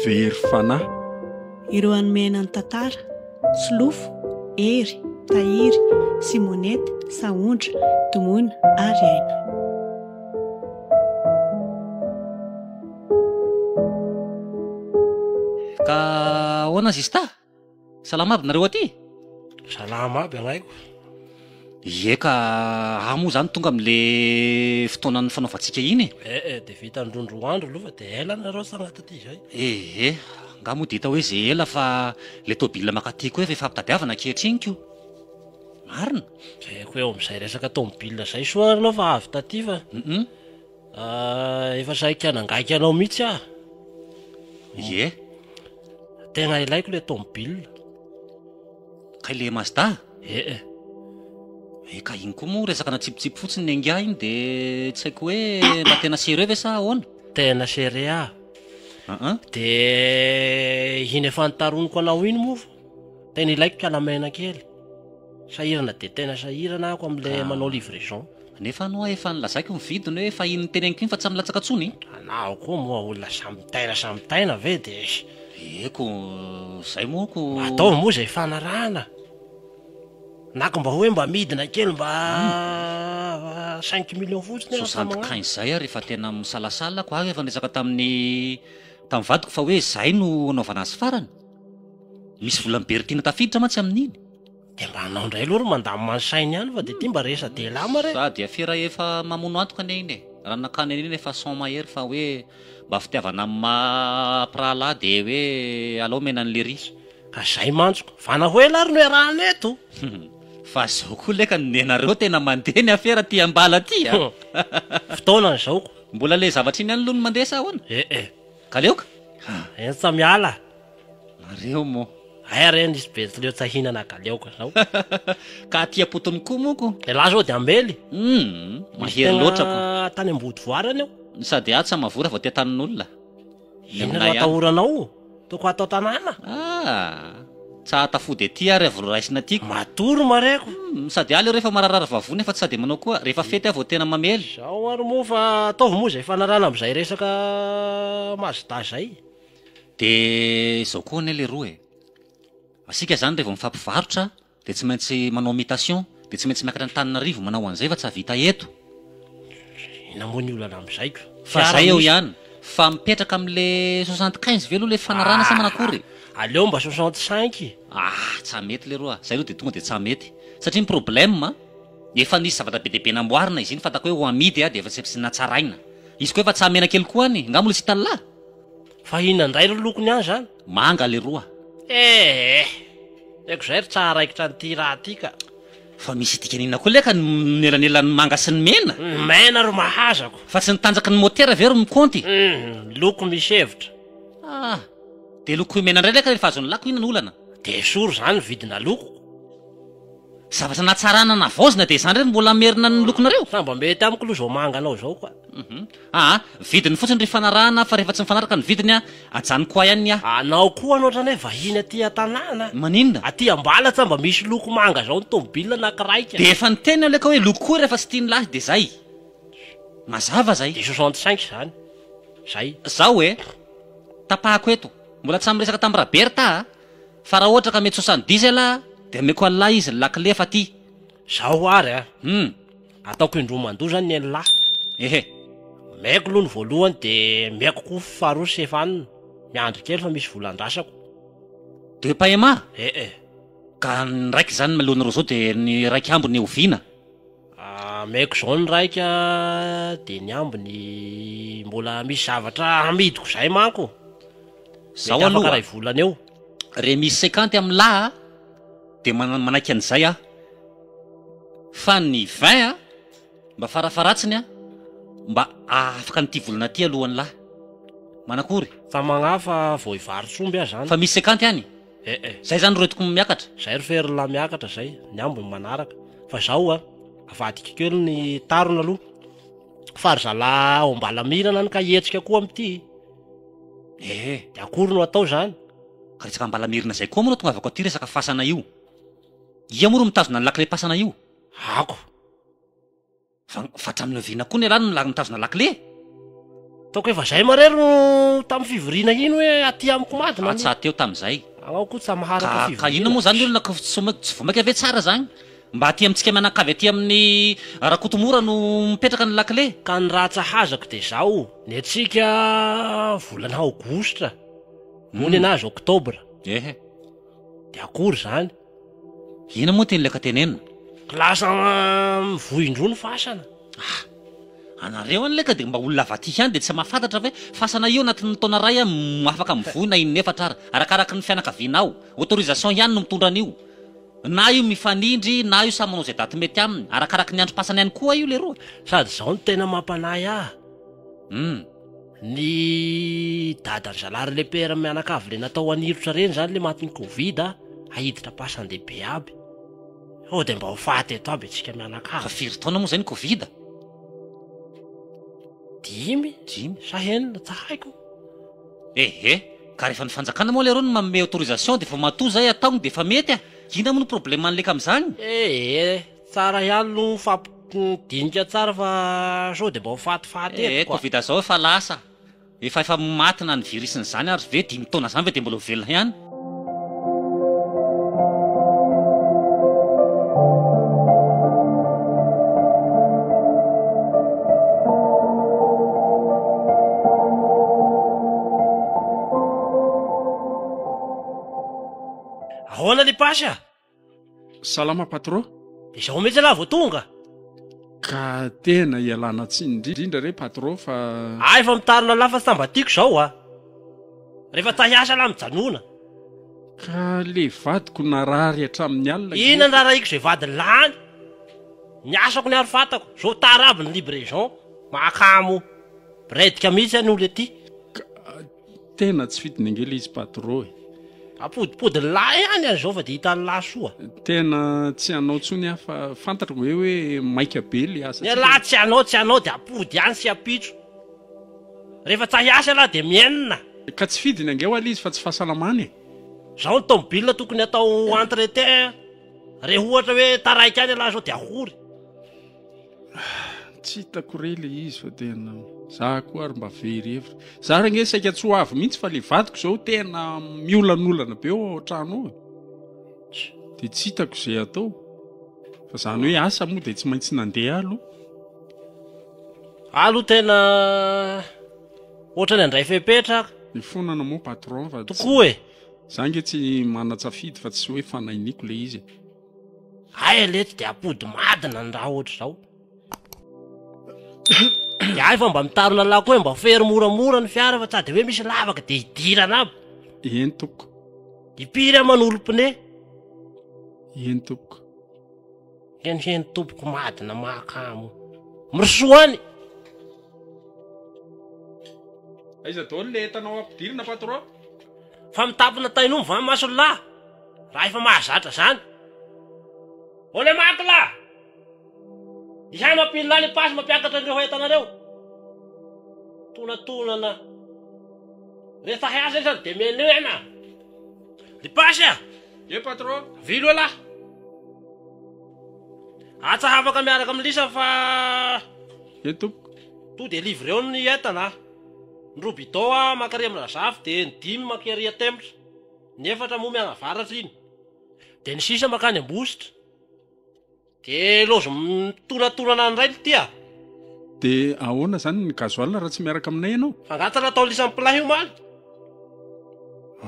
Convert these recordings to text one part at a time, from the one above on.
Very fanahy. Ireo hanome aina ny tantara, Solofo, Hery, Tahiry, Simonette, Sahondra, Domoina ary Aina. Ka ahoana zista? Salama aby nareo aty? Salama aby agnaiko. Ie ka à moa zany tonga am le fotoana nifanaovantsika iny e! Eh eh de vita ndroa ndroa andro aloha fa de ela nareo sagnatria aty izay. Ehe, nga moa de hita hoe ze ela fa le tôbila makaty koa efa ifampitadiavana ankehitriny ko. Marina? Zay ko eo amzay resaka tômôbila zay soa ary enao fa avy taty fa. Hum. Ah, efa saiky hanangaika anao mihitsy aho. Ie? Tegna ilaiko le tomobile. Kay le Mazda? Eh eh. Eh ka iny koa moa resaka natsipitsipy fotsiny ny ingahy iny de tsy haiko hoe mba tena sérieux ve sa ahoana? Tena sérieux aho. Ah ah. De iny efa nitaroniko anao iny moa Tena ilaiko kalamena kely. Sahirana dia tena sahirana ako amin'ilay Ka- manao livraison. Nefa aloha efa nilazaiko ny vidiny hoe efa in'ny teny ankin fa tsy milatsaka tsony. Anao koa moa olona samy mitaina samy mitaina ve de Eko, zay moa ko. Mba ataovy moa izay fanarahana. Na ko mba hoe mba midina kely mba ah, cinq millions fotsiny aho Soixante magnano. kain zay ary efa tena misalasala ako ary efa niresaka tamin'ny tamin'ny vadiko fa hoe zay no anaovana azy farany. Misy vola mibery tiana tafiditra mantsy amin'iny. Dia mba anao indray aloha ry mandamina ny sainy ihany fa dia ity mba resa-dehilahy ma re. Sady afera efa mamono antoka anie iny e. Raha nakany an'iny efa son mahery fa hoe mba fitiavana amin'ny maha mpirahalahy dia hoe alao omena an'i Lery. Ka zay mantsy ko. Vana ho ela ary no iarahana eto. Humm. Fa zao koa leka ny nenareo tena mandeha ny afera aty am-bala aty a. Humm. Fotoana ny zaoko. Mbola le zavatra iny ihany aloha no mandeha sa ahoana? Eh eh. Ka leo ka! Eny tsa miala nareo moa. Hay ary eny hisy Betsileo tsa hinana ka leo ka zao. Ka aty am-potony koa monko. Elah zao dia ambely. Humm! Mahery loatra ko. Tegna tany Ambodivoara any aho. Ny sady ahy tsa mavora vao tia tanin'olona. Inona no atahoranao? Toko hatao tanàna? Ah! Tsa atafody aty ary avy noraisina aty. Matoa ry mareko. Humm, sady aly ireo efa mararara vavony nefa tsy sady manao koa, rehefa fety aho vao tena mamely. Zao ary moa fa ataovy moa zay fanarahana amzay resaka mazda zay. Dia zao koa anie leroa e, asika zany revô mifampivarotra dia tsy maintsy manao mitation, Dia tsy maintsy miakatra Antananarivo manao an'izay fa tsy hahavita eto. Inona moa ny olana amin'izay ko. Fa zay eo ihany. Fa mipetraka amle soixante quinze ve aloha le fifanarahana sa manakory e? Aleo mba soixante cinq e. Ah! tsa mety leroa, zay aloha dia tonga dia tsa mety. Satria ny problème, efa nisy zavatra be dia be namboarina izy iny fantako hoe ho amidy dia efa tsy natsaraina. Izy koa efa tsa menakely koa any, nga mbola tsy hitan'lah? Fa inona indray ry lokony any zany? Manga leroa eeh! Eko zay ry tsaha raikitra an'ity raha ty ka! Fa misy dikany inona koa leka ny mielanelan'ny manga sy ny mena? Mena ro mahazako! Fa tsy ny tanjaky ny motera ve ro mikaonty? Humm! Loko misy hevitra! Ah! Dia lokoy mena indray leka rehefa azon'ny lako inona no olana? Dia esory izany ny vidina lokoko! Zavatra natsarana navaozina dia izany re no mbola merina ny lokonareo? Sambambe tamiko lo zao manga anao zao koa. Aa vidiny fotsiny ry fanarahana fa rehefa tsy mifanaraka ny vidiny a ajanoko ahy any ny ahy. Anao koa no otrany hoe vahiny aty an-tanàna. Maninona? Aty ambala tsa mba misy loko manga zao ny tomobilina na kiraika. Dia efa niteny aho le ka hoe loko koa rehefa tsy tian'ny lahy dia zay. Mazava zay. Dia soixante cinq zany. Zay. Zao e. Tapahako eto. Mbola tsy samy miresaka tamin'i Rabe ry Taha a. Fa raha ohatra ka mety sosa ny diesel aho dia omeko an'lah izy ny lakile fa ty. Zao ary a! Hum. Ataoko indroa mandoa zany ny an'lah. Ehe. Omeko aloha ny voalohany dia omeko koa faharoa sy efa any, miandry kely fa misy vola andrasako. Deux paiements? Ee. Ka ny raika izany mialoha ny roa zao dia ny raika ambiny oviana? Ameko izao ny iraika dia ny ambiny mbola misy zavatra hamidiko izay manko. Mety afaka iray volana eo. Re misy sekanty amin'ny lahy a dia manaiky an'izay aho fa ny vingt a mba farafaratsiny a mba afaka an'ity volana ty aloha ny lahy. Manakory? Fa magnahy fa vao hivarots'omby aho izany. Fa misy sekanty any? Eh eh. Zay zany roediko ny miakatra. Zay ry fery lahy miakatra zay, ny ambiny manaraka. Fa zao a, avadiko kely ny tarona aloha. Fa ry zalahy ao ambalamirana any ka hihetsika koa amty. Eh eh. De akory no atao zany? Ka resaka ambalamirana zay koa moa no atongavako aty resaka fasana io. Ia moa ro mitazona ny lakile pasana io? Ako. Fa fa hatramin'ny oviana koa ny ialahy no nilarin'ny tazona lakile e? Ataoko hoe vazaha marery no tamin'ny fivoriana iny hoe aty amiko mad na Atsa teo tamin'izay. Anao koa tsamahara Ka koa ka inona moa fivoriana. zany ny olona ko tsy mo- tsy vomaika ve tsara zany? Mba aty amintsika mianakavy aty amin'ny Rakotomora no mipetraka ny lakile? Ka ny raha tsahazako dia zao, ny antsika volana aogositra, moa ny Mhm. anazy oktobra, Ehe. dia akory zany? Inona moa ty ny leka tenenina? Ka lasa mivoy indroa ny fasana. Ah! Anareo any leka dia mba olona avadika any dia tsy mahafantatra ve fasana io anatin'ny taona iray an mo afaka mivoy na in'efatra ara, arakaraky ny fianakavianao. Autorisation ihany no mitondra an'io. Na io mifanindry na io samy manao izay daty mety aminy. Arakaraky ny androm-pasana ihany koa io leroa. Sady izao no tena mampanahy ahy. Hum. Ny dadan-dry zalahy ry lepera mianakavy le natao anirotra reny zany le matin'ny covid a, ahiditra pasan-dehibe aby. Sao dia mba ho faty eto aby antsika mianakavy. Fa firy taona moa zay ny covid? Dimy Dimy. sa enina tsy haiko. Ehe, ka rehefa ny fanjakana moa leroa no manome autorisation dia vao matoa zay ataogny dia efa mety a! Ina moa no problème an'leka amzagny? Ehe, Tsara ihany lo mifampidinika tsara fa sao dia mba ho fatifaty eto quoi. Covid zao efa lasa, efa efa maty na ny virus n'izany ary ve dimy taona zany ve dia mbola ho velona ihany? Ahoana ny Pache a? Salama patro. Izao mihitsy lah vao tonga. Ka tena ialana tsiny indrindra re patro fa. Ahy efa mitarina lah fa tsy mba tiako izao a. Rehefa tsahy hiasa lah mijanona. Ka le vadiko narary hatramin'ny alina gie. Inona ny rarahiko izay vadiny lany? Ny asako ny ary fantako. Zao tara aby ny libraison. Mahakamo. Bredika mihitsy any olona ety. Ka. Tena tsy fidin'angely izy patro e. Apodipodin'ny lahy any any zao fa de hitan'ny lahy soa. Tena tsy anao tsony aho fa fantatro ve hoe maika be le asa tsika. Ny lahy tsy anao tsy anao de apody ihany sy ampitso. Rehefa tsa hiasa lahy de mienina. Ka tsy fidiny ange hoaly izy fa tsy fahasalamana e. Zao ny tomobilina tokony atao entretien re ohatra hoe taraiky any ialahy zao de ahory. Tsy hitako re le izy fa tena za koa ary mba very hevitra. Za re nge saika tsy ho avy mihitsy fa le vadiko zao tena miolanolana be ao an-trano ao. Dia tsy hitako izay atao. Fa zany hoe asa moa dia tsy maintsy nandeha aloha. Alo tena ohatrany handray fepetra aho. Ny fonana moa patron fa. Tokoa e. Za nge tsy manan-tsafidy fa tsy hoe fanahiniko le izy e. Hay aleha tsy dia ampody madina ny raha ohatr'izao. Dia hay fa mba mitarina laoka hoe mba fery moramora ny fiara fa tsa dia hoe misy lavaka dia hidirana aby. Eny tompoko. Impiry aho manolo pneu? Eny tompoko. Henheny tompoko madina mahakamo. Mirosoa any! Aiza daholo ilay entanao ampidirina patron? Fa mitapina tain'omby va ny mason'lah? raha efa mahazatra zany. Ole makla! Ihay mampilina le pasy mampiakatra an'ireo entana ireo. Tonatonana. Rehefa hay asa isan de menu en a. Le pasy a! Ye patron. Vilo elah. Atsa hafaka miaraka amin'ny lisa fa Ye tompoko. To de livre eo ny entana a. Ny roa bidon a mankary amin'ny Razafy de ny dimy mankary a Temps. Ny efatra moa mianavaratra iny de ny sisa makany ambositra de lozo mitonatonana any rainy ty ah. De ahoana zany ny gasoil raha tsy miaraka aminay ianao? Fangatana atao lisany plat io omaly.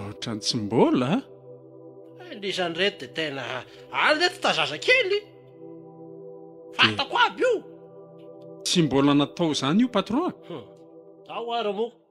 Otrany tsy mbola a. Eh, lisany reto de tena any reto ta zazakely. Fantako aby io. Tsy mbola natao zany io patron a. Hum, ao ara moa.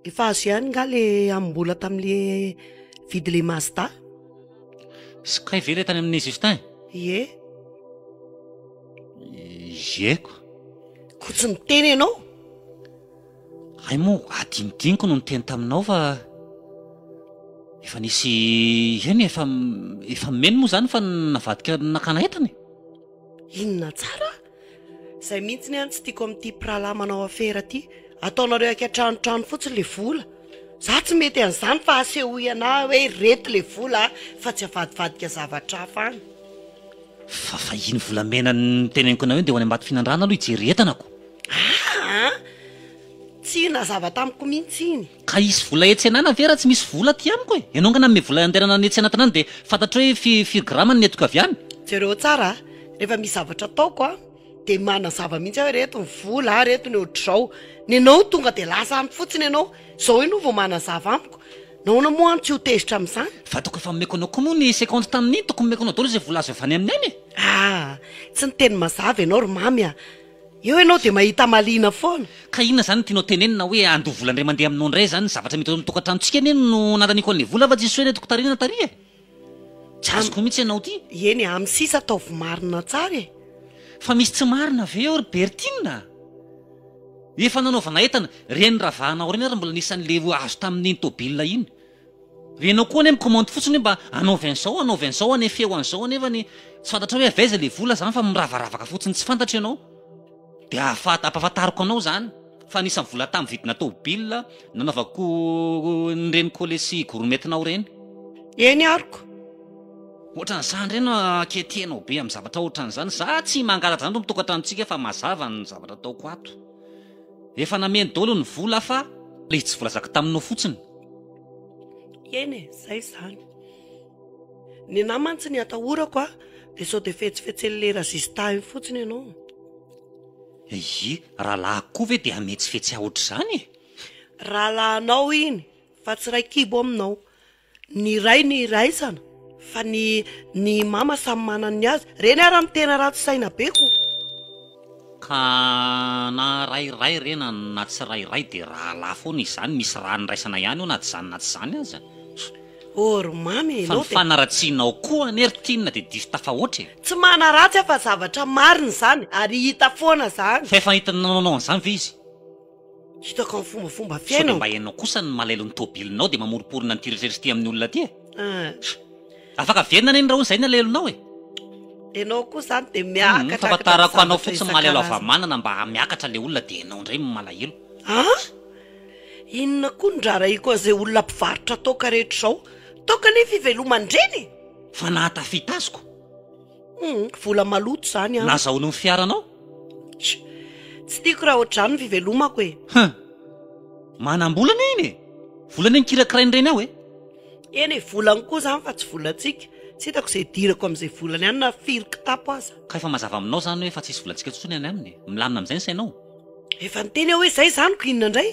Efa azo ihany nga le amim-bola tamle vidy le mazda? Sy kay ve le tany amin'i Justin? Ie. Ie ko. Ko tsy niteny ianao? Hay moa adinodiniko no niteny taminao fa efa nisy eny e, efa efa meno moa izany fa navadika nakana entana e. Inona tsara? Zay mihitsy ny an tsy tiako amin'ity mpirahalahy manao afera ty, ataonareo aika trano trano fotsiny le vola, za tsy mety an'izany fa asehoy anah hoe reto le vola a, fa tsy avadivadika zavatra hafa an. Fa fa iny volamena niteneniko anao iny dia ho any Ambatofinandrana aloha hijery entanako. Aa! Tsy nazava tamiko mihitsy iny. Ka hisy vola etsy anana ve raha tsy misy vola aty amiko e? Ianao nga nanome vola handehanana any etsy anatiny any dia fantatrao hoe fi, firy grama ny nentiko avy any? Jereo tsara a! Rehefa misy zavatra ataoko a, dia manazava mihitsy aho hoe reto ny vola a, reto ny ohatr'izao. Nenao tonga dia lasa any fotsiny ianao, izao ianao vao manazava amiko. Nahoana moa any tsy ho tezitra amin'izany? Fa tokony efa nomeko anao koa moa ny seconde tamin'iny, tokony nomeko anao daholo izay vola azo avy any aminay e! Ah! Tsy niteny mazava ianao ry Mamy a! Eo ianao dia mahita mahaliana foana. Ka inona zany no tianao tenenina hoe andoha vola ndray mandeha aminao ndray zany zavatra mety ao amin'ny tokantranontsika anie no nananiako an'le vola va jesoa nety kotariana tary e! Tsy azoko mihitsy ianao ty. Eny e, amin'ny sisa ataovy marina tsara e. Fa misy tsy marina ve eo ry Bertine a? Efa nanaovana entana, reny ravahana ao reny ary mbola nisy an'le azo tamin'iny tôbila iny. Re enao koa anie mikomandy fotsiny hoe mba anaovy an'izao anaovy an'izao anefeo an'izao anefany tsy fantatrao hoe avy aiza le vola zany fa miravaravaka fotsiny tsy fantatra ianao de ahafat- ampahafantariko anao zany fa anisan'ny vola tamin'ny vidina tôbila nanaovako ny reniko le sy gorometinao reny Eny aroko. Ohatran'izany reny aketienao be amin'ny zavatra ohatran'izany za tsy mangalatra zany eto amin'ny tokantranontsika fa mazava ny zavatra ataoko ato. Efa nameno dolo ny vola fa le tsy volazako taminao fotsiny. Eny e, zay izany. Ny anahy mantsy ny atahorako a, de sao de fetsifetsen'ny le rajista iny fotsiny ianao. Ehe, rahalahiko koa ve de hametsifetsea ohatr'izany e? Rahalahinao iny fa tsy ray kibo aminao. Ny iray ny iraisana fa ny ny mama samy manana ny azy. Reny ara ny tena ratsy saina be ko. Ka na ray iray re na na tsy ray iray dia rahalahy foana izany misy raha niraisana ihany eo na tsy izany na tsy izany aza. Oh ry mamy e, ianao dia. Fa ny fanaratsianao koa anie ry Tinina dia diso tafahoatra e. Tsy manaratsy aho fa zavatra marina izany ary hita foana izany. Fa efa hitanao an'izany ve izy? Hitako amin'ny fombafomba fiainao. Sao dia mba hainao kosa ny malailo ny tobilinao dia mamoriporona an'ity rehetra rehetra ity amin'ny olona ity e? Ah. Afaka averina anie ny rahona izay ny alailonao e! Ianao koa izany dia miakatra hatrany zavatra isan-karazany. Fahafantarako anao fotsiny malailo havamanana mba hamiakatra ilay olona dia ianao indray no malahelo. Ah! Inona koa ny raharahiako an'izay olona mpivarotra toaka rehetra izao? Toaka anie fiveloman-dreny e! Fa nahatafita azy ko! Humm vola maloto zany an. Nazahoany ny fiaranao? Tch! Tsy tiako raha ohatr'izany ny fivelomako e! Humm! Manam-bola anie iny e! Vola anie no kirakirain'ny reny ao e! Eny e, volany koa izany fa tsy volantsika. Tsy hitako izay hidirako amin'izay volany any na firy kitapo aza. Ka efa mazava aminao izany hoe efa tsisy volantsika intsony any aminy e! Milamina amin'izay ny sainao? Efa niteny aho hoe zay zany ko inona indray?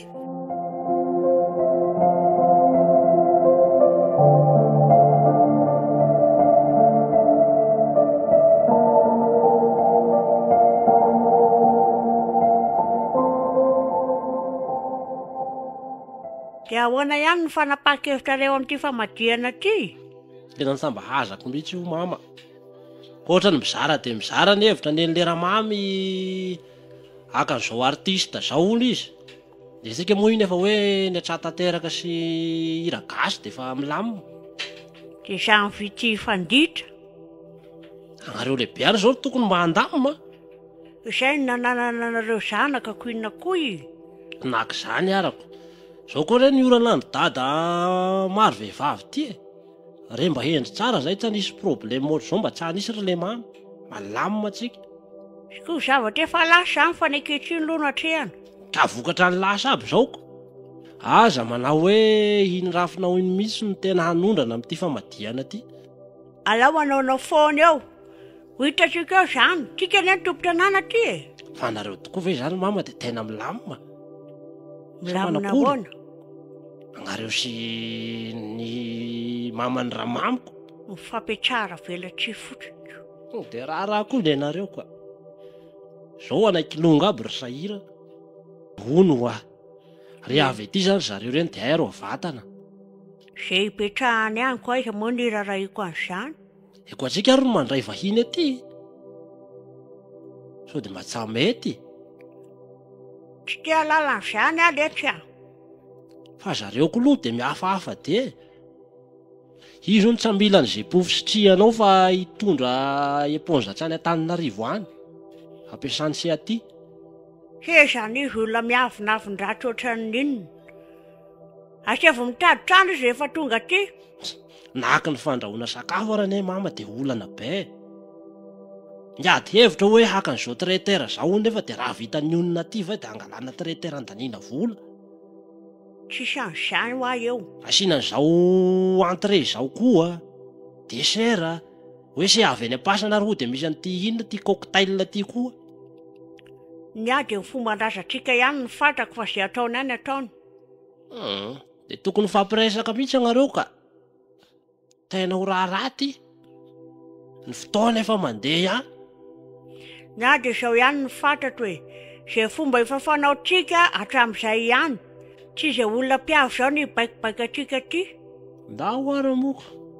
Dia ahoana ihany ny fanapahan-kevitrareo amin'ity famadihana ity? Tena nitsambahazako mihitsy io mama. Hoatra ny mizara dia mizara ny hevitra nen'i leramamy. Haka an'izao artiste izao hono izy. Dia isika moa iny efa hoe ny atsah tanteraka sy hira gasy dia efa milamina. Dia izaho ny vitsy hifanditra. Ianareo lehibe ary izao no tokony mba handamina. Izay no nananana anareo zanaka ko inona koa i. Naka izany arako. Izao koa re ny orana andry dada maro vehivavy ity e. Re mba hendry tsara zay tsy hanisy problème ohatr'izao mba tsy hanisy ry lemamy. Malamina tsika. Ko zavatra efa lasa zany fa ny ankehitriny aloha no atrehana. Ka vokatra ny lasa aby zao ko. Aza manao hoe iny rafinao iny mihitsy no tena hanondrana amin'ity famadihana ity. Alao manaonao foana eo. Ho hitantsika eo izany. Tsika anie ny tompon-tanàna aty e! Fa nareo tokoa ve izany mama dia tena milamina? Milamina ahoana? Anareo sy ny maman'ny ramamiko. Mifampiatsara velatsihy fotsiny. Tonga dia raharaha koa ny anareo ka. Izao anay kilonga aby ry sahirana. Hono hoa. Re avy aty izany ry zareo ireny dia airy vatana. Izay ipetrahany any koa aiza moa no irarahiako an'izany? Eko antsika ary no mandray vahiny aty sao de mba tsy hamety e. Tsy te halala an'izany aho letsy a. Fa zareo klou de mihafahafa de. Izy hono tsa mila ny zepo fisitrihanao fa hitondra eponza hatrany Antananarivo any, ampiasany tsy aty. He izany izy olona miavonavon-dratsy ohatran'ny inona? Asaivo mitady trano izy rehefa tonga aty. Nahaka ny fandrahoana sakafo ary anie mama dia olana be e! Ny ady hevitra hoe haka an'izao traiteur izao hono nefa dia raha vita ny onona aty ve dia hangalana traiteur handaniana vola? Tsy changeant hoa eo. Asiana an'izao entrée izao koa, dessert, hoe se avy any am-pasana ary hoy dia misy an'ity inona ity cocktail ity koa. Ny ady amin'ny fomban-drazantsika ihany no fantako fa ze ataony any ataony. Hum. De tokony hifampiresaka mihitsy ianareo ka! Tena ho raharaha ity! Ny fotoana efa mandeha ihany. Na dia izao ihany no fantatro e! Izay fomba efa fanaontsika hatramin'izay ihany. Tsy izay olona mpiavy izao no hibaikobaiko antsika aty. Ndao ary moa ka!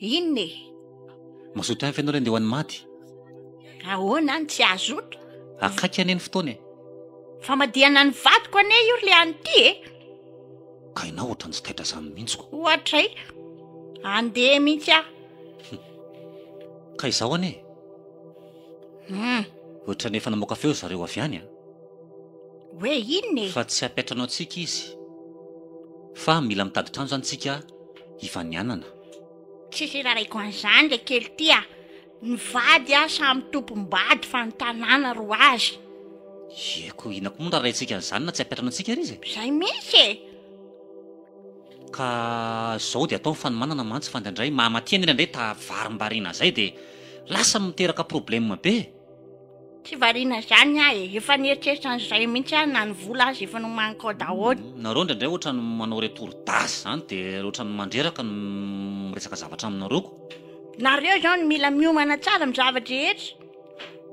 Inona e? Mazoto hafa ianao re andeha ho any maty. Ahoana any tsy hazoto? Akaiky anie ny fotoana e. Famadihana ny vadiko anie io ry any ity e. Ka ianao ohatrany tsy taitra izany mihitsy ko. Ohatray. Andeha mihitsy aho. Ka izaho anie e. Hmm. Ohatrany efa namoaka feo zareo avy any a. Hoe inona e? Fa tsy hampiantra anao antsika izy. Fa mila mitady trano izany tsika hifanianana. Tsy hiraraiko an'izany le kely ty a! Ny vady a samy tompom-bady fa ny tanàna ro azy. Ye ko inona ko moa no rarahintsika an'izany na tsy ampiatrana antsika ary izy e! Zay mihitsy e! Ka zao de atao ny fanomanana mantsy fa ndraindray maha-matihan'ila ndray tavarimbarina zay de lasa miteraka probleme be e! Tsy variana izany aho e, efa nieritreritra an'izay mihitsy aho na ny vola aza efa nomaniko ao daholo. Nareo indraindray ohatran'ny manao retour d'age zany de ohatran'ny mandreraka ny miresaka zavatra aminareo ko. Nareo zao no mila miomana tsara amin'ny zava-drehetra.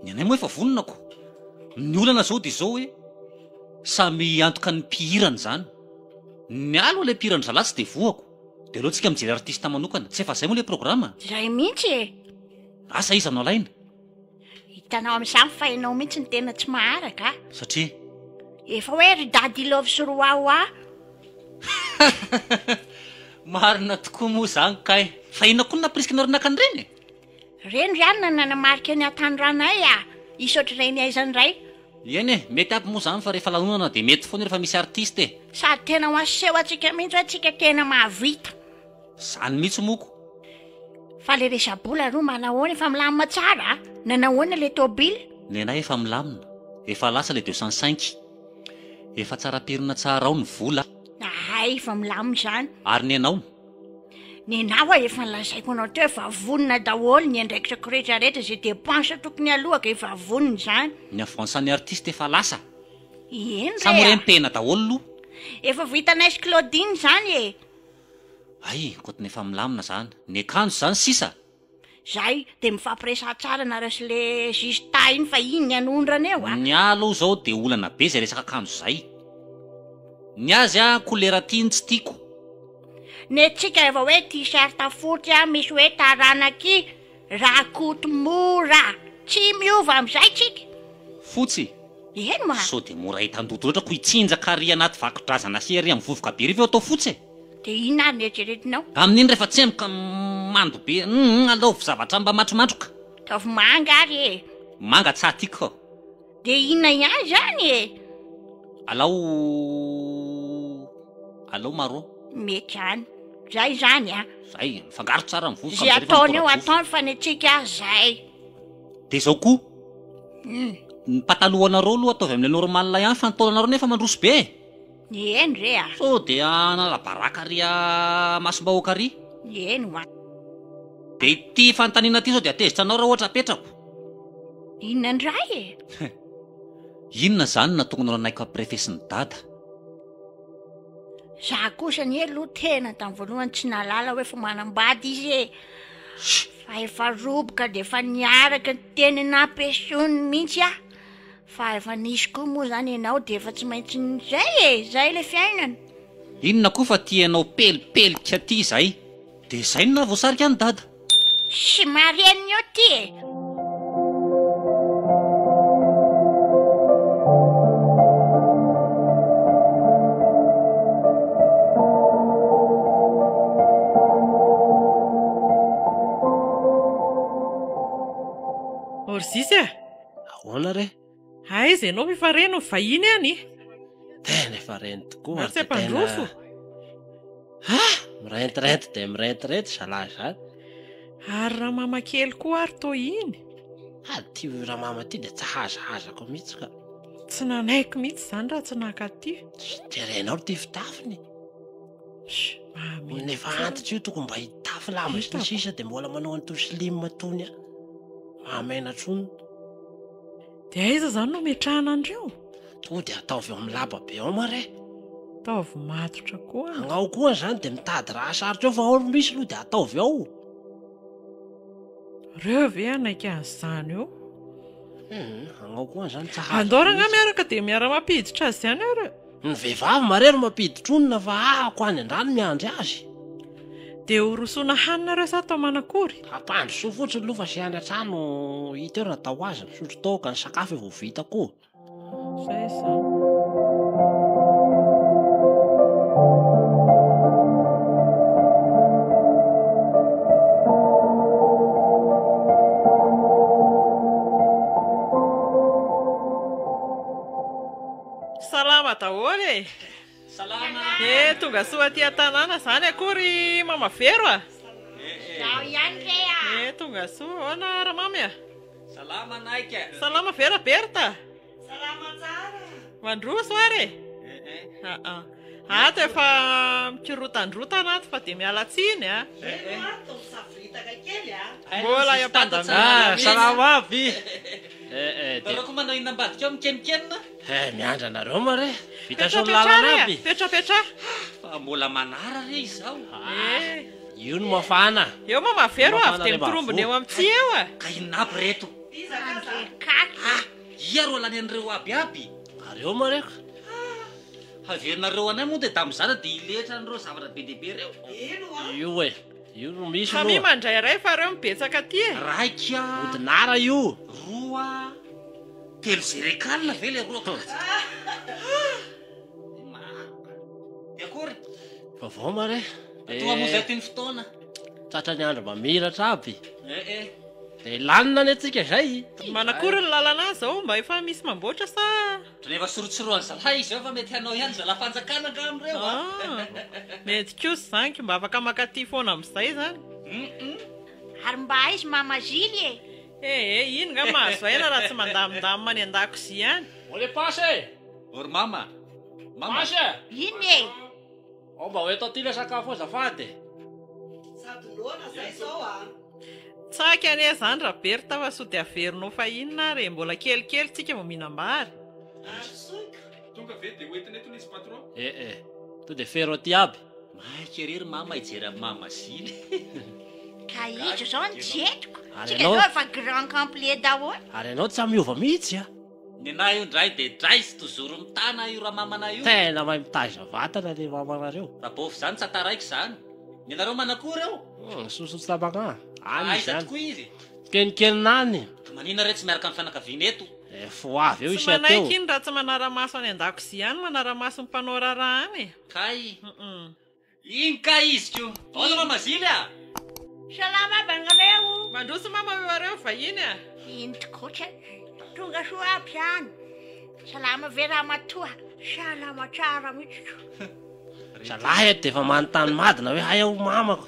Ny anay moa efa vonona ko. Ny olana zao de zao hoe samy hiantoka ny mpihirany izany. Ny ahy aloha le mpihira an'zalahy tsy de voa ko. De aleo tsika mijery artiste manokana. Tsy efa zay moa le programa? Zay mihitsy e. Asa iza no alaina? Hitanao amin'izany fa ianao mihitsy no tena tsy maharaka a! Satria? Efa hoe ry dada i love sy ry wawa! Marina tokoa moa izany kay! Fa inona koa no nampirisikanao ry naka an'ireny e? Ireny ry any no nanamarika ny hatanoranay a! Hisy ohatr'ireny aizany indray! Eny e, mety aby moa izany fa rehefa lanonana dia mety foana rehefa misy artista e! Sady tena ho aseho antsika mihitsy hoe tsika tena mahavita! Zany mitsy moko. Fa le resabola aloha manahoana efa milamina tsara a! Nanahoana le tobile? Nenay efa milamina, efa lasa le deux cent cinq, efa tsara pirina tsara ao ny vola. Ahay efa milamina izany. Ary ny anao? Nenao a efa nolazaiko anao teo fa vonona daholo ny andraikitrakao rehetra rehetra ze depense tokony aloha ka efa vonona izany. Ny avance ny artiste efa lasa. Eny re a. Sa moa re mitehina daholo lo? Efa vohitanay sy Claudine izany e. Hay, koto ny efa milamina zany, ny akanjo zany sisa! Zay de mifampiresaha tsara nareo sy le juge ta iny fa iny ny anondrana eo a! Ny ahy aloha zao de olana be zay resaka akanjo zay! Ny azy a kolera ty ny tsy tiako! Ny antsika efa hoe t-shirt fotsy a misy hoe taranaky Rakoto mora tsy miova amin'izay tsika. Fotsy. Eny ma. Sao dia mora hitan-doto loatra ko hitsinjaka ary anaty vakodrazana sy ery amin'ny vovoka be ry vao atao fotsy e. Dia inona ary ny eritreretinao? Amin'iny rehefa tsemboka mando be iny alaovy zavatra mba matromatroka. Ataovy manga ary e. Manga tsa tiako. Dia inona ihany izany e? Alao alao marron. Mety ihany. Zay izany an. Zay, mifangaro tsara ny vovoka. Zay ataony eo ataony fa ny antsika zay. Dia izao koa. Hmm. Ny patalohanareo aloha ataovy amin'ilay normal ihany fa ny taolanareo nefa mandroso be e. Eny re a! So dia hanala baraka ry a masom-bahoaka ry. Eny ho an. Dia ity fanontaniana ity sao dia hatezitra anao raha ohatra apetrako. Inona indray e? Inona izany na tokony horanahiko amprefesin'i dada? Za kosa anie aloha tena tamin'ny voalohany tsy nahalala hoe efa manambady izy e! Fa efa roboka dia efa niaraka teny Nampesoany mihitsy aho. Fa efa nisy koa moa zany enao de efa tsy maintsy zay e! Zay le fiainana. Inona koa fa ty enao pelipelika ty zay. De zay no nahavoasarika an'i dada. Tsy marenina eo ty e! Orzizy a! Ahoana re? Aiza ianao efa re no vahiny any e! Tena efa reny tokoa ary dia tena... Ha! Mirentirento dia mirentirento zalahy izany. Ary ramama kely koa ary toa iny. Ha, ty ramama ty dia tsy hazahazako mihitsy ka. Tsy nanaiky mihitsy izany raha tsy naka ty. Jerenao ty fitafiny. Olona efa antitra io tokony mba hitafy lava sy ny sisa dia mbola manao an'itony slim itony an. Mahamaina tsony. Dia aiza izany no ametrahana an'ireo? Toa dia ataovy ao amin'ny laba be ao moa re. Ataovy matotra koa. Agnao koa izany dia mitady raha sarotra eo fa ao ry misy aloha dia ataovy ao. Reo ve hanaiky an'izany eo? Hum, agnao koa izany tsa hafa. Andao rangahy miaraka dia miara-mampiditra azy ihany eo reo. Ny vehivavy marero mampiditronina fa ahako any andrano miandry azy. Dia ho rosoana hanina reo sa tao manakory? Ampandrosoa fotsiny aloha fa sy any an-trano hita eo raha atao ho azy, misotro toaka, ny sakafo efa ho vita koa. Izay izany. Salama daholo e! Salama! He tonga soa aty an-tanàna izany akory i Mama Vero a! Izaho ihany re a! He tonga soa, ahoana Ramamy a? Salama anay ka! Salama ve Raberta? Salama tsara! Mandroso ary e! Aa. Ato efa mikirotandrotana ato fa dia miala tsiny a. Eny oa to misavoritaka kely a. Mbola eo am-pandaminana mihitsy. Salama aby. Eh eh. Nareo koa manao inona ambadika ao mikenokenona? Eh miandry anareo moa re. Vita sory lalana aby. Petrapetraha re a. Petrapetraha. Fa mbola manara re izaho. Eh. Io no mafana. Eo moa mavero avy dia mitorombona eo amin'ny tsihy eo a. Ka inona aby reto? Iza ka za? Andrekakina. Ah! Ia ro lany an'ireo aby aby? Ary eo moa re ko. Haverinareo anay moa dia da mizara dia hiletra an'ireo zavatra be dia be ireo? Eny hoa. Io e! Io no misy aloha. Famille mandray iray fa ireo mibetsaka aty e! Raika. Odinara io. Roa. Telo zerekal ve le roa ka? Dia maro. Dia akory? Vaovao ma re? Dia. Toa moa izay toy ny fotoana. Tratra ny andro mamiratra aby. Eh eh. Dia lanona ny antsika izay. Manakory ny lalana any izao? Mba efa misy mamboatra sa. Rehefa sorotsoroan'i zalahy izy eo fa mety hanao ihany zalahy fanjakana angamba ireo a! Ah! Mety kosa izany ka mba afaka mankaty foana amin'izay izany. Hum. Ary mba aiza mama Zily e? Eh eh, iny nga mahazo aina raha tsy mandamindamina any an-dakozia any. Ô le passe e! Ô ry mama! Mama! Passe! Inona e? Ao mba ho eto aty ilay sakafo azafady e. Sady noana zay izao a. Tsaky anie izany Raberta fa sao dia averinao fahiny ary e, mbola kelikely tsika vao mihinam-bary. Ary soka. Tonga ve dia ho entina eto ilay izy patron? Eh eh. To dia fero aty aby. Maika ery ry mama hijery an'i mama zina. Ka iza izao no tsy entiko? Tsika izao efa grand complet daholo. Ary ianao tsy miova mihitsy a. Nenah io ndray de dray sy tozoro mitana io ramamana io. Tena mahay mitaiza vatana le mamanareo. Rabôfy zany tsy ataraiko zany. Nenareo manakory eo? Hum soso tsy tabaka any izy Aiza tokoa izy? Mikeninkenina any. Ka manina re tsy miaraka amin'ny fianakaviana eto? Efa ho avy eo Tsy isia teo. manaiky iny raha tsy manara-maso any an-dakozia any, manara-maso ny mpanao raharaha any e. Kay. Hum. Iny kay izy ko. Aona mama zily a! Salama bangareo. Mandroso mama eo areo vahiny a. Iny tokoa kay. Tonga soa aby zany. Salama ve ramatoa. Salama tsara mitsy ko. Zalahy eto dia efa manontany madina hoe hay aho mamako.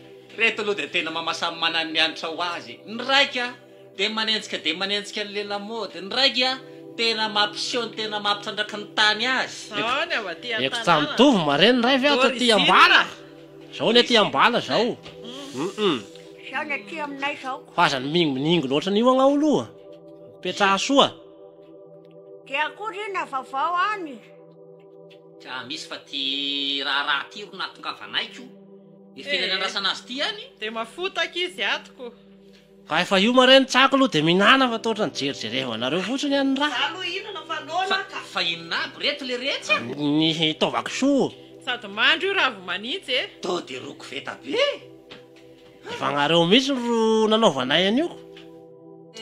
Ireto aloha dia tena mama samy manana ny hanitra ho azy e! Ny raika dia manenjika dia manenjika an'ilay lamaody, ny raika tena mampiseho ny tena maha mpitrandraka ny tany azy. Zao ny avy aty an-tanàna. Eko tsa mitovy mare ny ray ve ato aty ambala? Zao ny aty ambala zao hum. Zao ny aty aminay zao. Fa aza miningoningo loatra an'io agnao aloha. Mipetraha soa. Dia akory inona vaovao any? Tsa misy fa ty raharaha ty ro nahatongavanay ko. Ehe eh. nandrasana azy ty any. De mafotaka izy ato ko. Ka efa io mare ny tsako lo de minana fa tohatra ny jerijerevanareo fotsiny any ra. Za lo inana fa noana ka. Fa inona aby reto le retsy a. Ny taova kisoa. Sady mandry io ravo manintsy e. To de ro koveta be e. Efa anareo mitsy ro nanaovanay anio ko.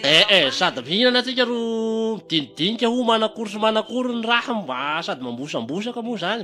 Eh eh sady mihinana tsika ro midinidinika ho manakory sy manakory ny raha mba sady mambosambosaka mo zany.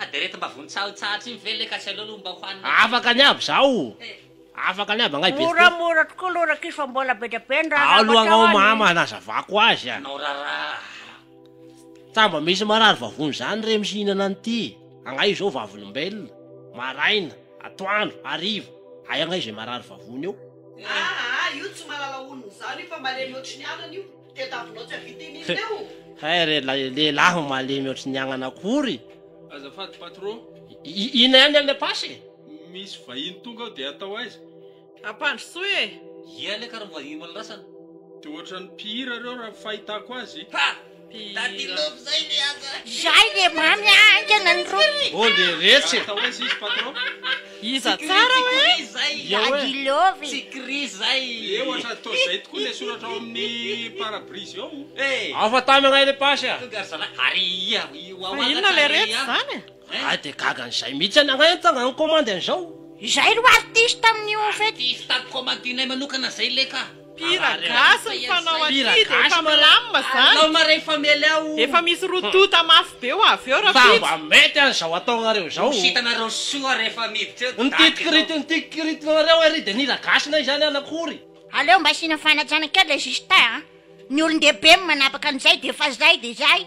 Ah de reto mba vontsahotsahotra iny ve le ka tsy aleo aloha mba hohanina kely. Afaka ny aby zaho o! Afaka ny aby angahy Berto. Moramora tokoa aloha rakis fa mbola bedra be ny raha lava Aolo angao mama hanazavako azy a! Anao raharaha. Tsa mba misy marary vavony zany re msihinana an'ity angahy io zao vavolombelona, maraina, atoandro, hariva, hay angahy zay marary vavony eo. Aa io tsy malala olona izany io fa malemy ohatry ny anana io. Tadiavinao tsy havita iny izy eo. Hay re ilay lehilahy malemy ohatry ny agnana akory. Azafady patro. Ina ihany ilay passe e? Misy vahiny tonga ao dia atao aiza? Ampandrosoy e! Ia le kara mivahiny malindrasana? Dia ohatran'ny mpihira ireo raha ny fahitako azy. Ha! Daddy love zay le aza. Zay le mamy haingana ny rohy. Ô le retsy e! Atao aiza izy patro? Iza tsara hoe Daddy Love e? Afa tamy anay le pasy a! Fa inona le retsy izany e? Za de gaga an'izay mihitsy any agnay nitsangana nikomandy an'izao. Izay aloha artiste amin'io fety. Artiste commandinay manokana zay leka. Pire gasy ny fanao aty dia efa milamina zany. Efa misy roa tonta mafy be ho avy eo raha vitsy. Ny titkirit ny titkirit nareo ery dia nila gasy nay zany an akory. Aleo mba asiana fanajana kely le Justin a! Ny olon-dehibe no manapaka an'izay dia efa zay dia zay.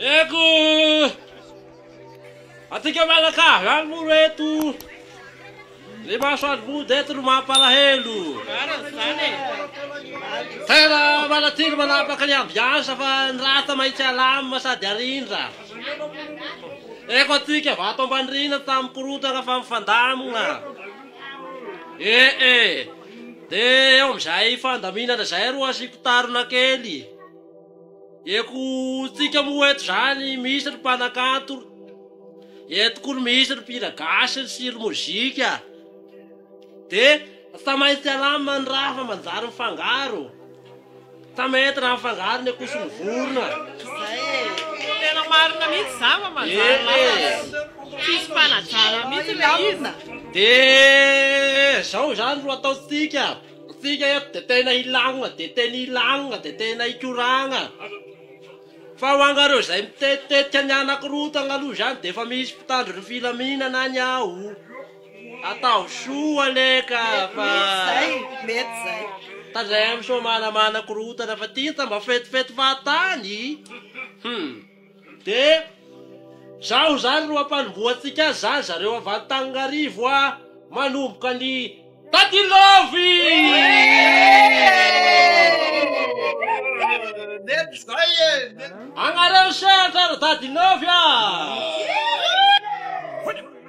Eko! Atika mianakavy any moa ro eto! Ny maso any mody eto no mampalahelo! Tena manatily manapaka ny ambiansa fa ny rata maintsy alamina sady arindra! Eko atika vato ambanirina tamin'ny korontana fa mifandamina! Ee, dia eo amin'izay fandaminana izay ro asiako tarona kely! Ekontsika moa eto zany misy ry mpanakanto, eto koa ry misy ry mpihira gasy sy ry mozika de tsa maintsy alama ny raha fa manjary mifangaro, tsa mety raha mifangaro ny akoho sy ny vorona. Zay e. Tena marina mihitsy zany fa manjary lasa tsisy fanajana mihitsy le izy. De zao zany ro ataontsika. Isika eto dia tena hilagnona, dia tena hilagnona, dia tena hikoragna. Fa ho anareo izay mitetitetika ny hanakorontagna aloha izany dia efa misy mpitandro ny filaminana any ao. Atao soa anie ka fa. Mety izay, mety izay. Tandremo soa manamana korontana fa ty aza mba fetifety fahatany. Hum. Dia zaho zany ro ampanombohantsika azy zany zareo avy Antananarivo a! Manomboka ny Daddy Love! Nety zay e! Agnareo sehatra ry Daddy Love a!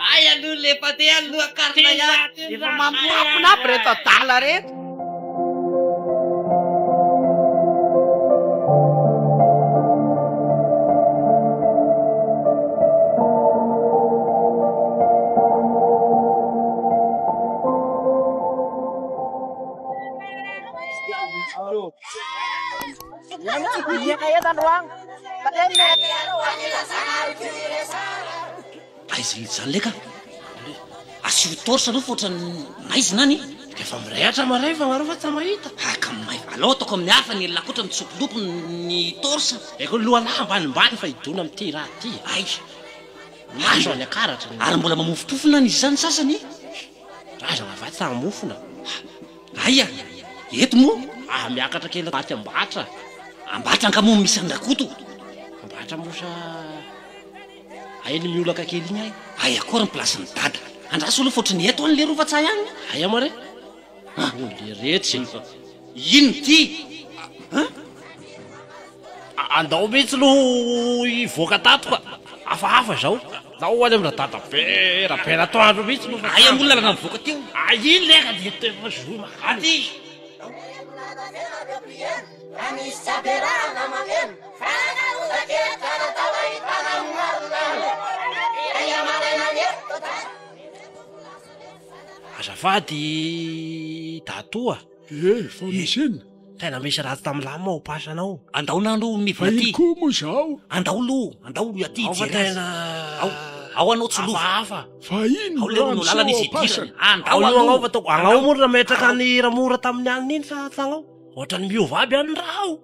Hay aloha le pate any loha karina ihany. Efa mamoapona aby reto adala reto. Ia ka eto androany. Pate ny mena. Aiza mihitsy zany leka? Asio torche aloha fa ohatran'ny maizina any. Efa mirehatra maray fa angaha reo va tsy mahita? Hay ka may. Aleo ataoko amin'ny hafa ny la koatra mitsompilopy ny torche. Eko ny lohan'ahy ambanimbany fa hidona amin'ity ra ty. Hay. Maso any akaratra ny. Ary mbola mamofompofona any izy zany sasany. Razana va tsy hamofona? Aia? Eto moa? Aah miakatra kely maty Ambatra. Ambatra angaha moa misy an'i Rakoto? Ambatra moa sa. Hay ny miolaka kely igny hay. Hay akoa ary ny place ny dada. Andraso aloha fa ohatry ny eto any leroa fa tsahy agny. Hay ama re. Ah oh leretsy e. Inona ity an? Andao mihitsy aloha ho hivoaka tato ka. Hafahafa izao. Andao ho any amin'ny radadabe rabeanatoandro mihitsy aloha fa. Aiza moa ny lalana mivoaka teo? Iny leka dia tena zohy mankany. Fa nisy tsy ampiarahana mamelona fa nanonja kely ka natao hahitana ny marina Dia ny amaraina nety tao Dago Azafady Dato a! Ee fa misy inona? Tena misy ratsy tamin'ny lame ao pasana ao. Andao na aloha mivola aty. Vahiny koa moa izao. Andao aloha, andao aloha aty hijery azy. Ao fa tena. Ao anao tsy lova. Hafahafa. Vahiny no lany sy ao am-pasana. Andao aloha. Ao io agnao fa tao. Agnao moa no nametraka an'i Ramora tamin'ny alina iny sa tsy agnao? Ohatran'ny miova aby any raha ao.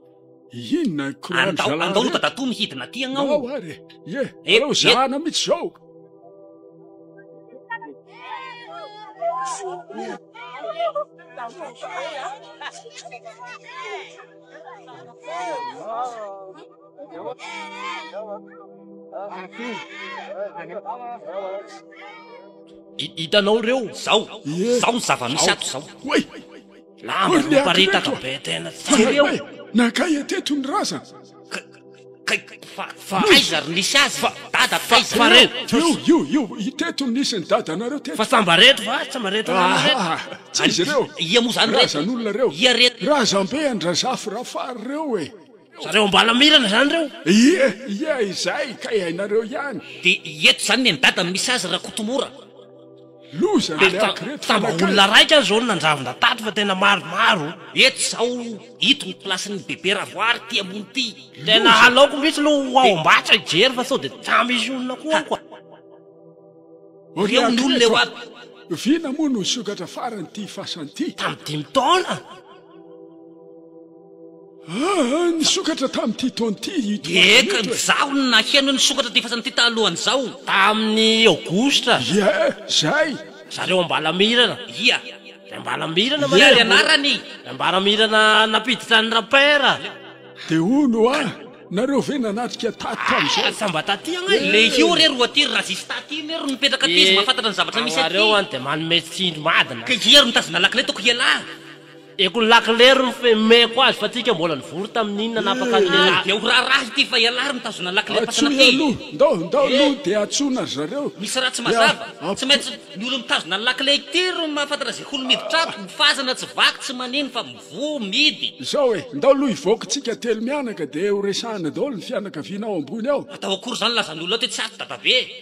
Inona i Croix ry zalahy reto? Andao ho dadatoa mihidina aty agnao. Ndao ary e. Ie, aleo zahana mihitsy zao. Hitanao ireo, zao, zao ny zava-misy ato zao. Lamba no miparitaka be tena tsara eo. Fa hoe nankaiza teto ny razana? Kay kay fa fa aiza ry nisy azy fa dada taiza? Fa reo io io io teto no nisy ny dadanareo teto. Fa samba reto va tsy mba reto namana reto? Aha! Tsy izy reo. Ia moa zany reto? Razan'olona reo. Ia re. Razambe an-dRazafy Rafary reo e. Zareo Ambalamirana zany reo? Ie ie izay kay hainareo ihany. De eto zany ny any dada no misy azy Rakotomora. Loza Ary ilay haky reto tamba fanakay. olona raika aza zao no nandravona tato fa tena maromaro. Eto zao ito ny place ny bebe ravoary ty ambony ty. Tena Loza. halaoko mihitsy lo ho ao Ambatsa hijery fa sao de tsa misy olona ko ao ka. Or le Reo ny haky olona reto eo aby. a! Vina moa no nisokatra farany ty fasany ty. Tamin'ny dimy taona. Ah! Nisokatra tamin'ity taona ity i Tomasy Eka, Amireto e! izaho no naheno ny sokatra ity fasan'ity talohan'izao. Tamin'ny Aogositra. Ie, zay! Zareo Ambalamirana. Ia. Ry Ambalamirana Ie, marary mbola. anarany. Ry Ambalamirana nampiditra an'i Rapper. Dia hono hoa, nareo ve nanatrika taty tamin'izao? Ah! Fa mba taty agne e! Ilay io re ro aty, ry Razista aty iny re ro nipetraka aty, izy mahafantatra ny zavatra misy aty. Anareo any dia manome tsindry madina. Ka ia ro nitazona lakile toko ialahy? Eko ny lakilery no fmeko azy fa tsika mbola nivory tamin'iny nanapaka ny lehilahy. Dia ho raharaha ity fa ialahy ry mitazona lakile patana ty. Atsoy aloha, ndao ndao aloha dia atsoina ry zareo. Misy raha tsy mazava. Tsy maintsy ny olona mitazona ny lakile ity ry mahafantatra izay olona miditra ato, mifazana tsy vaky tsy manino fa mivoha mihidy. Izao e, ndao aloha hivoaka tsika telo mianaka dia ho resahana daholo ny fianakaviana ao ambony ao. Atao akory izany lazan'olona ato hoe tsy ato dadabe e.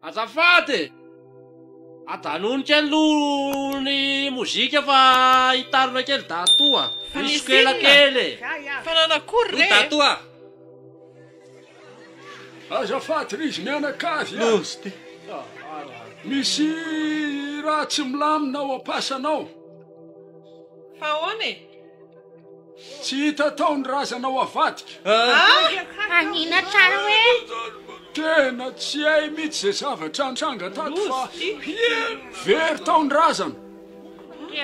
Azafady e! Ajanony kely aloha ny mozika fa hitarina kely Dato a! Misy sokela kely e! Fa nanakory re e! Ry Dato a! Azafady ry izy mianakavy a! Misy raha tsy milamina ao am-pasanao. Fa ahoana e? Tsy hita tao ny razanao avadika. Ah! Hanina tsara hoe. Tena tsy hay mitsy ze zavatra nitranga tato fa very tao ny razana.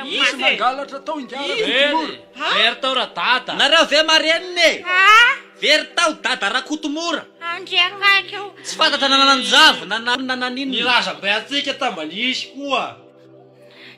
Nisy nangalatra tao ingara Kotomora. Very tao ra dada. Nareo ve marenina e? Ah! Very tao dada Rakotomora. Andriamaika o. Tsy fantatra na nanjavona na nanan'inona. Ny razam-be antsika tambalish koa.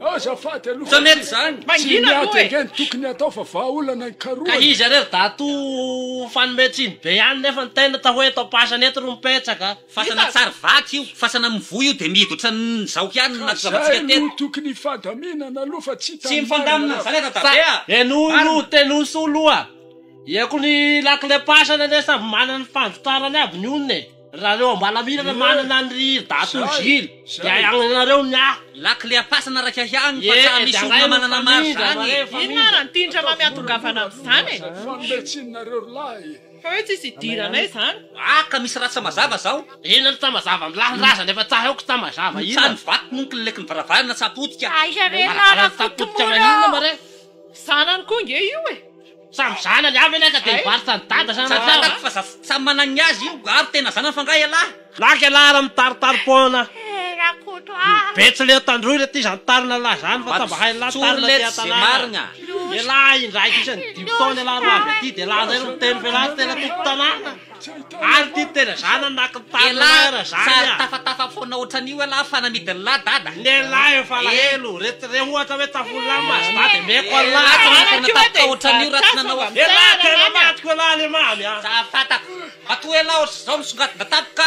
Azafady aloha Tsy mety zany. Tsy Mangina miady aloha e. ange ny tokony atao fa vahaolana Ka nikarohana. izy ary ry Dato fanome tsiny be ihany nefa ny tena atao hoe taom-pasana eto ry mipetsaka. Fasana tsary vaky io, fasana amin'ny voa io dia mihidy ohatran'ny zaoka ihany no Ka nahatonga zay antsika no teto. tokony hifandaminana aloha fa tsy Tsy hitan'ny mifandamina marina amin'izany raha. aza Fa dadabe a! henoy Marina. aloha, tenoy soa aloha. Iako ny lakile-pasana anie samy manana ny fanvokarany aby ny olona e. Raha reo ambalamirana manana an ry dato Gilles de hay agnanareo ny ahy. Lakile am-pasana raika ihany fa tsa misy olona manana maro izany e! Inona ary an ty ndrama miatongavana amizany e! Fanombe tsiny nareo ry lahy e! Fa hoe tsisy hidiranay zany? Ah ka misy raha tsa mazava zao. Inona no tsa mazava am lahy ny razana efa tsa haiko tsa mazava inona? Tsa ny vato moa kileleky ny varavarana tsa potika. Aiza re ny lahy rakotomora ô! Zanany koa nge io e! Samy zanany avy anie ka dia mivarotra an'i dada sa raha Fantako fa za samy manana ny azy io ary tena zanany fa nga ialahy. Lahy k'ialahy raha mitaritary poana. Eh Rakoto ah. Betsileo tandroy re ty zany tarina lahy zany fa tamba hain'ny lahy tarina ty an-tanàna. Ialahy indraiky isan'ny dimy taona ialahy ro avy aty dia laza eo ny miteny f'ialahy tena tompon-tanàna. Ary ty tena za nanaky ny taninay ra zany ah. Elah tafatafa fona otranio elah fa namidy ny lah dada. Ny elah efa alahelo re ty re ohatra hoe tafo lah maso dada emeko Allah. Elah tena efa natapika otranio ra tsy nanao akory. Elah tena matiko elah le mamy ah. Za fatako. Matoa elah otrzao misongadina tampoka.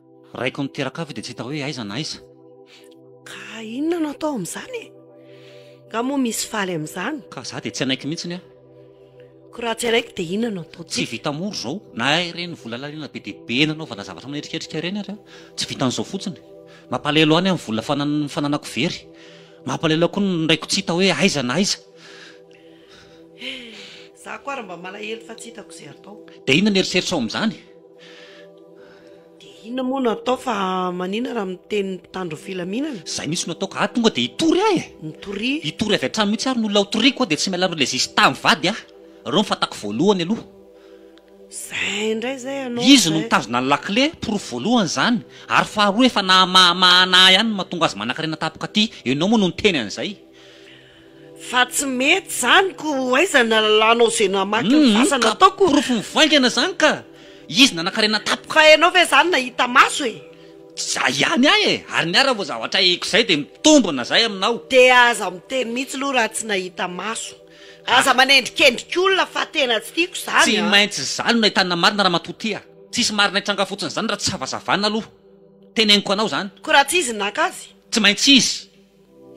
Raiko niteraka ahy dia tsy hita hoe aiza na aiza. Ka inona no atao amin'izany e? Nga moa misy faly amin'izany? Ka za dia tsy hanaiky mihitsiny aho. Ko raha tsy hanaiky dia inona no atao? Tsy vita moro izao na ireny vola laliana be dia be nanaovana zavatra manetriketrika ireny ary an! Tsy vitan'izao fotsiny. Mampalahelo ahy ny amin'ny vola fananan'ny fananako very. Mampalahelo ahy koa ny raiko tsy hita hoe aiza na aiza. Eh! Za koa ary mba malahelo fa tsy hitako izay atao. Dia inona no eritreritrao amin'izany? Dia inona moa no atao fa manina raha miteny ny mpitandro ny filaminana? Zay mihitsy no ataoko ah tonga dia hitory ahy eh! Mitoria. Hitory avy hatrany mihitsy ary no olona hotoriako ah dia tsy miala amin'ilay zista mivady ah! Ireo no fantako voalohany aloha. Zay indray zay anao Izy no zay. mitazona ny lakile, porofo voalohany izany, ary faharoa efa nahamahamahana ahy ihany no mahatonga azy manankarena tampoka aty, ianao moa no niteny an'izay. Fa tsy mety izany ko ho aiza ny alalanao izay namaky ny fasana ataoko? Ka porofo mivaingana izany ka! Izy nanakarena tapoka. Fa ianao ve izany nahita maso e? Tsy za ihany ahy e! Ary ny ahy raha vao zavatra hahiko izay dia mitombina izay aminao. Dia aza miteny mihitsy aloha raha tsy nahita maso. Aza manendrikendrika olona fa tena tsy tiako izany a! Tsy maintsy izany no nahitana marina ramatoa ty a! Tsisy marina hitranga fotsiny izany raha tsy havazavana aloha. Teneniko anao izany. Ko raha tsy izy no naka azy? Tsy maintsy izy.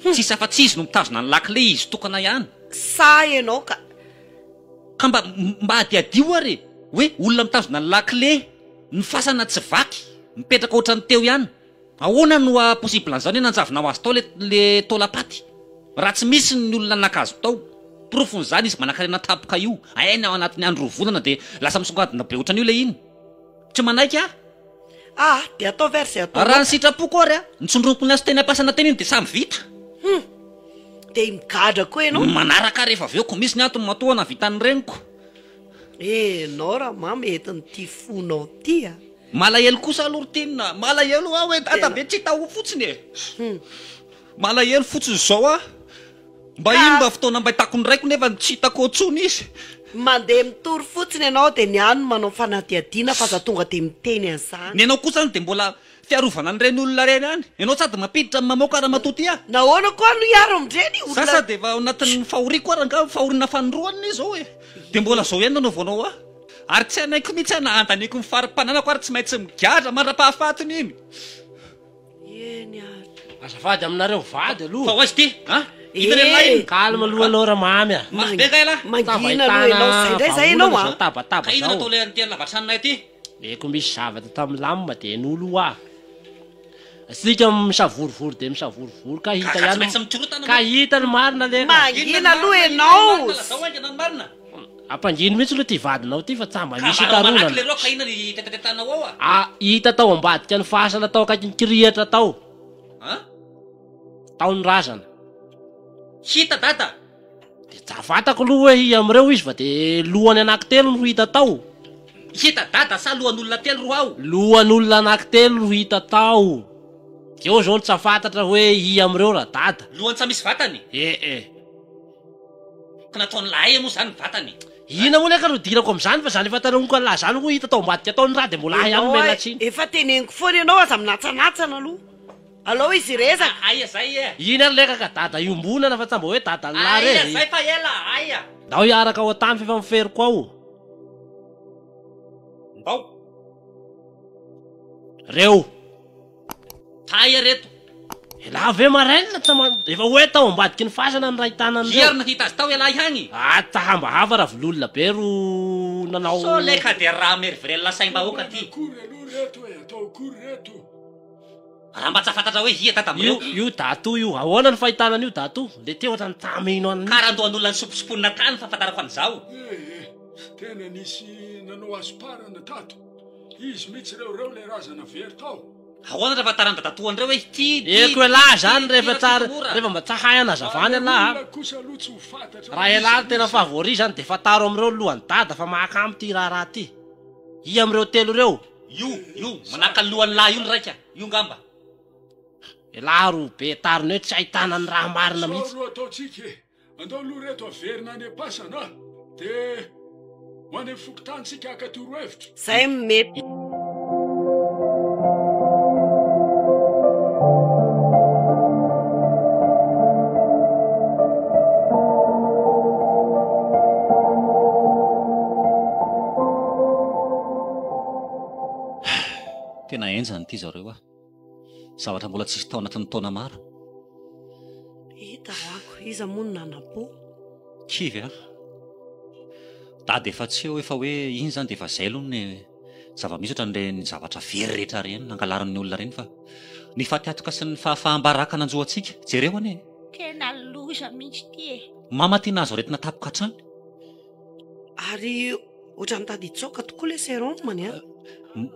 Tsisy afa tsy izy no mitazona ny lakile izy tokana ihany. Sa ianao ka. Ka mba mba adiadio ary e! Hoe olona mitazona ny lakile, ny fasana tsy vaky, mipetraka ohatran'ny teo ihany. Ahoana no ha possible an'izao ny nanjavona ho azy tao le le taolam-paty? Raha tsy misy ny olona naka azy tao. Porofon'izany izy manankarena tampoka io, hainy ao anatin'ny andro roa volana dia lasa misongadina be ohatran'io le iny. Tsy manaiky aho. Raha ny sitrapoko ary an, ny tsindromiko niasa teny am-piasana teny iny dia samy vita. Ny manaraka ary efa avy eo koa misy ny antony matoa nahavitan'ny reniko. Malahelo kosa aloha ry Tim a! Malahelo aho e! Dadabe tsy hita ao fotsiny e! Malahelo fotsiny izao aho. Mba iny mba fotoana mba hitako ny raiko nefa tsy hitako eo intsony izy. Mandeha mitory fotsiny ianao dia ny ahy no manao fanadihadiana fa aza tonga dia miteny an'izany. Ny anao kosa any dia mbola fiarovana an'ireny olona ireny any. Ianao sady mampiditra no mamoaka ramatoa tia. Nahoana koa no hiaro amin'ireny olona. Za sady efa ao anatin'ny fahoriako ary angaha fahoriana fanindroany anie izao e. Dia mbola izao ihany no hanaovanao ahy. Ary tsy hanaiko mihitsy aho na handaniako ny fari-pananako ary tsy maintsy migadra mandra-pahafatiny iny. Eny ary. Azafady aminareo vady aloha. Fa hoaiza ity a? Hita ny laininy. Eh! Calme aloha ianao ramamy a. Mafy be kay lahy. Mangina aloha ianao izay indray izay ianao a. Vahaolana izao tabataba izao. Ka inona no atao ilay an'ity an'la Vatranonay ity? Dia koa misy zavatra tao amin'ny lamina dia nolo hoa. Asika misavorovoro dia misavorovoro ka hita ihany. Ka tsy maintsy mikorotana. Ka hita ny marina leka. Mangina aloha ianao. Lazao haingana ny marina. Ampangino mihitsy aloha ity vadinao ity fa tsa mba misy hikarohana ah hita tao ambadika ny fasana tao akaikin'ny kirihitra tao ah tao ny razana hita dada de tsa fantako aloha hoe iha amin'ireo izy fa de lohany anakitelo no hita tao hita dada sa lohan'olona telo ro ao lohan'olona anakitelo no hita tao de eo zao no tsa fantatra hoe iha amin'ireo ra dada lohany tsa misy vatany eh eh Ka nataony lahay anie moa zany ny vatany e! Ina moa le ka no idirako amzany fa zany efa tandramiko anlah zany hoy hita tao ambadika tao ny ra de mbola ahy ihany omena Enaoay tsiny. efa teneniko foana ianao aza minantsanatsana aloha alao izy hirezaka. Aia zay e! Iny ary leka ka dada iombonana fa tsa mba hoe dadanlah re e! Aia zay fa ela a! Aia! Ndao hiaraka ao an-tany f'efa miferoko ao o! Ndao! Reo! Taia reto. Elah ve marainina tsy ma efa hoe tao ambadiky ny fasana ny rahitanan'ireo. Zia ry nahita azy tao elah ihagny. Ata hambahava ravololona be ro nanao. Sao le ka de raha merivrelona saim-bahoaka ty. Inona akory aloha reto e, atao akory reto. Raha mba tsy afantatra hoe hia tata amin'ireo. Io io dato io ahoana ny fahitana an'io dato le te ohatran'ny tamy ino an'i. Kara andohan'olona nisompisiponina tany ny fahafantarako an'izao. Ee, tena nisy nanao asomparana tato. Izy mitsy ireo ireo le razana very tao. Ahoana raha efa taran'ny dadatoan'ireo hoe ity, ity, Eko elah zany rehefa tsara rehefa mba tsahay anazavany elah a. Olona kosa aloha tsy ho fantatra hoe Raha iza elah no tena izy. favori zany de fantaro amin'ireo lohan'i dada fa mahakamo ity raharaha ity. I amin'ireo telo ireo. Io, io manahaka ny lohan'ny lahy io ny raika, io ngamba. Elah ro be tariny hoe tsy ahitana ny raha marina Sao mihitsy. ro ataontsika e. Andao aloha reto averina any am-pasana de ho any amin'ny fokontany tsika haka torohevitra. Zay no mety. Tena enjana ity zareo ah. zavatra mbola tsisy tao anatin'ny taona maro etaako iza moa no nanam-po kivy a dady efa tsy eo efa hoe iny zany de efa zay aloha ny zava-misy ohatra nre ny zavatra very rehetra reny nangalarin'ny olona reny fa ny fatiatoka sy ny fahafaham-baraka nanjoantsika jereo anie tena loza mihitsy ty e mama ty nahazo aretina tapoka hatrany Ary ohatran'ny tady hitsaoka tokoa ilay serum any an!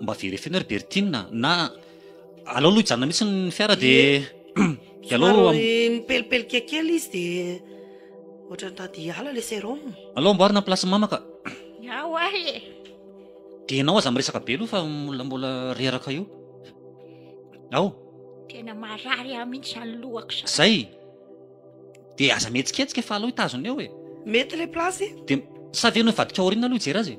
Mba very feno ry Bertine a! Na alao aloha hijanona mihitsy ny fiara dia dia alao am- Somary mipelipelika kely izy dia ohatran'ny tady hiala ilay serum. alao amboarina ny place mama ka! Ny ahy hoa e! Dia ianao aza miresaka be aloha fa mbola mbola reraka eo. Ao! Tena marary ahy mihitsy izany lohako izany. Izay! Dia aza mihetsiketsika fa alao hitazona eo e. Mety le place e. Dia sa ve anao hivadika ao aoriana aloha hijery azy e.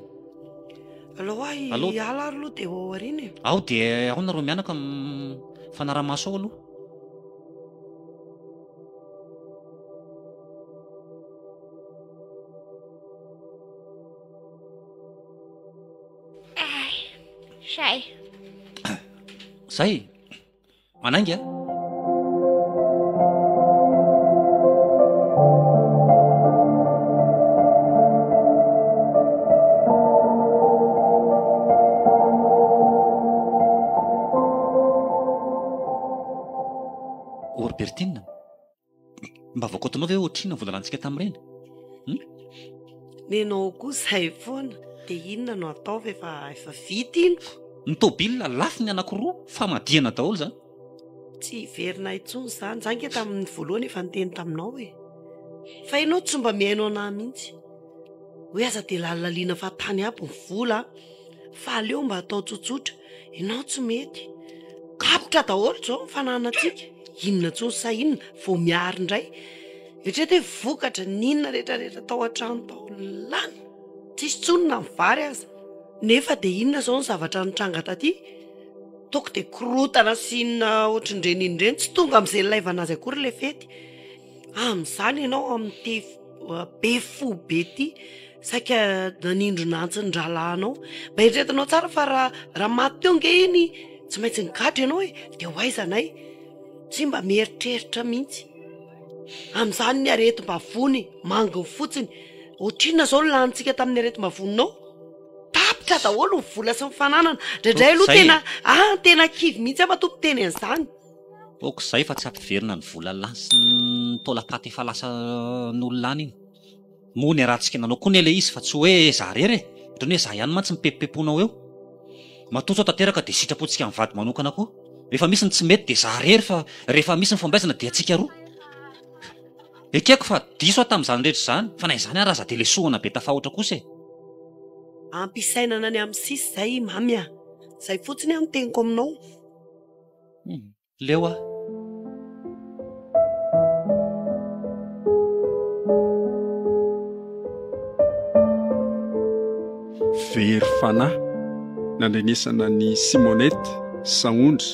Alao aho hiala ary aloha dia ao aoriana e. Ao dia ao nareo mianaka mifanara-maso ao aloha. Zay. Zay. Manainga a! Orbertina. Mba voakaotinao ve ohatrinona vola lanintsika tamin'ireny? Hum? Nenao koa izay foana. Dia inona no ataovy efa efa vita iny? Ny tôbila lafo ny anankiroa famadihana daholo izany. Tsy hiverina intsony izany. Za nge tamin'ny voalohany efa niteny taminao e. Fa ianao tsy mba mihaino anah mihitsy. Hoe aza dia lalinalina fa tany aby ny vola. Fa aleo mba atao tsotsotra. Ianao tsy mety. Kapoka daholo izao ny fananantsika. Inona intsony sa inona vao miary indray. Eritrereto hoe vokatra ny inona rehetrarehetra tao an-trano tao. Lany. Tsisy intsony na ny vary aza. Nefa dia inona izao ny zavatra nitranga taty? Toaka dia korontana sy inona ohatrin'ireny inona ireny. Tsy tonga amin'izay nilaivana azy akory ilay fety. Amin'izany ianao amin'ity be fo be ity saika nanindrona antsy ny rahalahinao. Mba eritreretinao tsara fa raha raha maty teo ange iny tsy maintsy nigadra ianao e, dia ho aiza anay? Tsy mba mieritreritra mihitsy. Amin'izany ny aretim-bavony manginy fotsiny. Ohatrinona izao ny lanintsika tamin'ny aretim-bavoninao? Tapitra daholo ny vola sy ny fananana. Indraindray aloha tena, ah, tena kivy mihitsy aho matoa miteny an'izany. ok zay fa tsy ampiverina ny vola lany sy ny taolapaty efa lasan'olo lany iny moa ny arahantsika nanao koa anie le izy fa tsy hoe za rery e otrany hoe za ihany mantsy mipepimpeponao eo matoa sao tanteraka de sitrapontsika mivady manokana koa rehefa misy ny tsy mety de za rery fa rehefa misy ny fombaizana de antsika roa ekeko fa diso aho tamin'izany rehetra izany fa na izany araza de lesohana be tafahoatra kosa e ampisainana any amin'ny sisy zay mamy a! zay fotsiny aho no teniko aminao. Leo aho. Very fanahy nandrenesana an'i Simonette, Sahondra,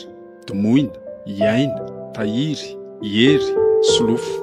Domoina, Iaina, Tahiry, Hery, Solofo.